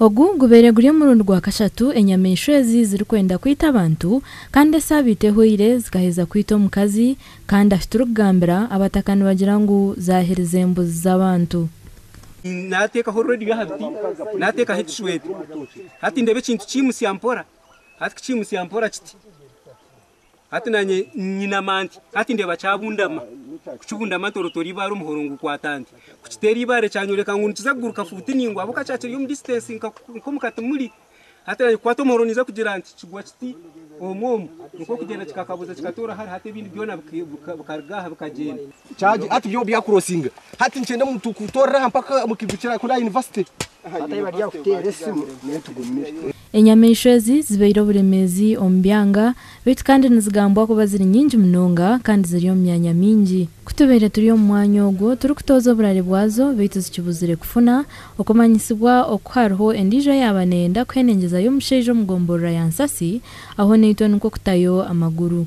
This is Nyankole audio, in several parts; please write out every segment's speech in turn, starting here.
Ogu gubaire guri omurundi gwa kashatu enyamaishwa ezi zirikwenda kwita abantu kandi esaabiiti ehweire zikaheza kwita omukazi kandi ahu turikugambira abataka nibagira ngu zaaherize embuzi z'abantu. Naateekaho reediyo aha biti, naateekaho ekishweta. Hati ndeeba ekintu kiimutsya mpora. Hati kiimutsya mpora kiti. Hati nanye nyinama nti, Hati ndeba kyabundama. Kukibundama ntorotoora ibaare omuhoro ngukwata nti, kukiteera ibaare kyanyoleka ngu nikiza kuguruka fuuti ningwa ahabw'okuba kyakiri omu distance nka nk'omu katimuri. Hati nanye kukwata omuhoro ninza kugira nti kigwa kiti omu omu nikwo okugyenda kikakabuza kikatoora hare hati ebindi byona bikaruga aha bikagyenda. Kyagye hati byo bya crossinga. Hati nikyenda omuntu kutoorera aha mpaka omu kigo kirakurira aha university. Hati ahi bari aha kuteera esimu, nyowe tugumire. Enyamaishwa ezi zibaire oburemeezi omu byanga, beitu kandi nizigambwa kuba ziri nyingi munonga kandi ziri omu myanya mingi. Ku tubaire turi omu mwanya ogwo turikutooza oburare bwazo, beitu zikibuzire kufuna okumanyisibwa oku hariho endiijo eyaaba neyenda kuhenengyezayo omushaija omu gomborora ya Nsasi, aho naitwe nikwo kutayo amaguru.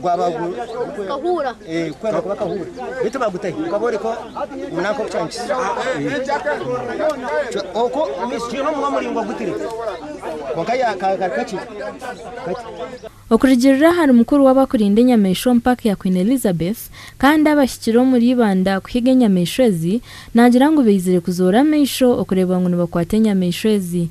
gwaba gukahuura kwenda kuba kahuura baitu bagutahi gukabooreka omunanka oku kyahikire oku twine omunwa muraingwa gutire kwonka yakakari kakye Okurugiirira ahari mukuru w'abakurinda enyamaishwa omu paaka ya Queen Elizabeth kandi abahikire omuri Ibanda kuhiga enyamaishwa ezi, naagira ngu baizire kuzoora amaisho okureeba ngu nibakwata enyamaishwa ezi.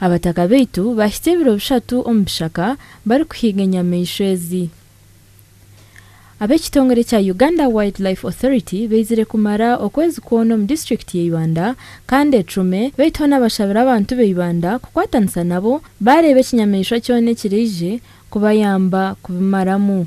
Abataka baitu baahitsya ebiro bishatu omu bishaka barikuhiiga enyamaishwa ezi. Ab'ekitongore kya Uganda Wildlife Authority baizire kumara okwezi kwona omu disiturikiti ya Ibanda kandi ecume baitu hoona bashabire abantu ba Ibanda kukwatanisa nabo baareeba ekinyamaishwa kyona ekiraije kubayamba kubimaramu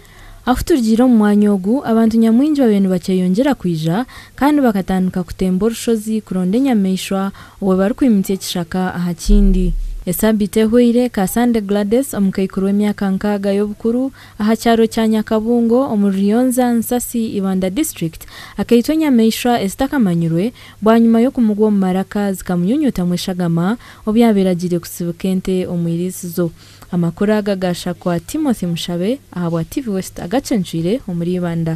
Ahu turigiire omu mwanya ogu, abantu nyamwingi babaire nibakyeyongyera kwija kandi bakatandika kutemba orushozi kuronda enyamaishwa obwe barikwimitsya ekishaka aha kindi. Esaabiiti ehweire, Kasande Gladys, omukaikuru w'emyaka nkaaga y'obukuru aha kyaro kya Nyakabungo omu Ruryoonza, Nsasi, Ibanda District, akaitwa enyamaishwa ezitakamanyirwe bwanyima y'okumugwa omu maraka zikamunyunyutamu eshagama obu yaabaire agiire kutsibika ente omu eiriisizo. Amakuru aga gaashakwa Timothy Mushabe ahabwa TV West agacencwire omuri Ibanda.